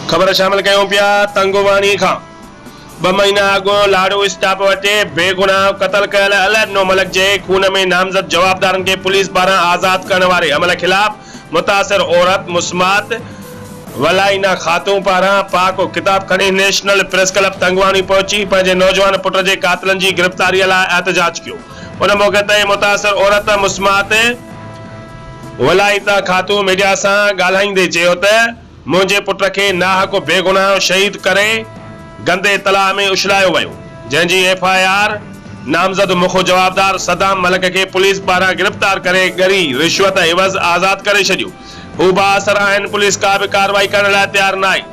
خبر شامل ڪيون پيا تنگواڻي کان ٻه مهينا اڳ لاڙو اسٽاپ وٽ بيگناهه قتل ڪيل الهڏنو ملڪ جي خون ۾ نامزد جوابدارن کي پوليس پاران آزاد ڪرڻ واري عمل خلاف متاثر عورت مسمات ولائينا خاتون پاران پاڪ و ڪتاب کڻي نيشنل پريس ڪلب تنگواڻي پهچي پنهنجي نوجوان پٽ جي قاتلن جي گرفتاري لاء احتجاج ڪيو ان موقعي تي متاثر عورت مسمات ولائيتا خاتون ميڊيا سان ڳالهائيندي چيو ته منهنجي پٽ کي ناحق بيگناهه شهيد ڪري گندي تلاء ۾ اڇلايو ويو، جنهن جي ايف آء آر نامزد مک جوابدار صدام ملڪ کي پوليس پاران گرفتار ڪري ڳري رشوت عيوض آزاد ڪري ڇڏيو. هو بااثر آهن، پوليس ڪا به ڪارروائي ڪرڻ لاء تيار ناهي.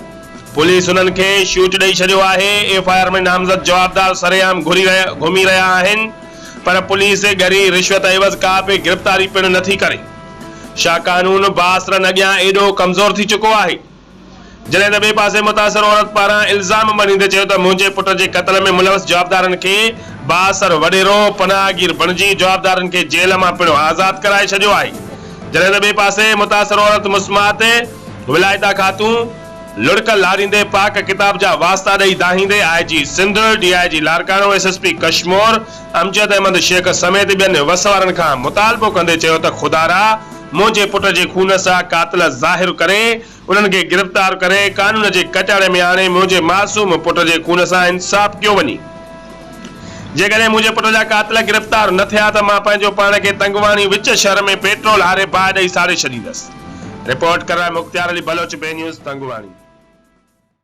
پوليس هنن کي شوٽ ڏئي ڇڏيو آهي، ايف آء آر ۾ نامزد جوابدار سرعام گهري رهيا گهمي رهيا آهن پر پوليس ڳري رشوت عيوض ڪا به گرفتاري پڻ نٿي ڪري. شاھ قانون بااثرن اڳيان ايڏو ڪمزور ٿي چڪو آھي. جڏھن ته ٻئي پاسي متاثر عورت پاران الزام ڀنيندي چيو ته منھنجي پٽ جي قتل ۾ ملوث جوابدارن کي بااثر وڏيرو پناھگير بڻجي جوابدارن کي جيل مان پڻ آزاد ڪرائي ڇڏيو آھي جڏھن ته ٻئي پاسي متاثر عورت مسمات ولايتا خاتون لڙڪ لاريندي پاڪ ڪتاب جا واسطا ڏئي دانھيندي I G Sindh, D I G Larkana, S S P Kashmore, Amjad Ahmed Shaikh سميت ٻين وس وارن کان مطالبو ڪندي چيو ته خدارا منهنجي پٽ جي خون سا قاتل ظاهر ڪري انهن کي گرفتار ڪري قانون جي ڪچاڙي ۾ آڻي منهنجي معصوم پٽ جي خون سان انصاف ڪيو وڃي جيڪڏهن منهنجي پٽ جا قاتل گرفتار نه ٿيا ته مان پنهنجو پاڻ کي تنگواڻي وچ شهر ۾ پيٽرول هاري باهه ڏئي ساڙي ڇڏيندس رپورٽ ڪرڻ مختيار علي بلوچ بي نيوز تنگواڻي.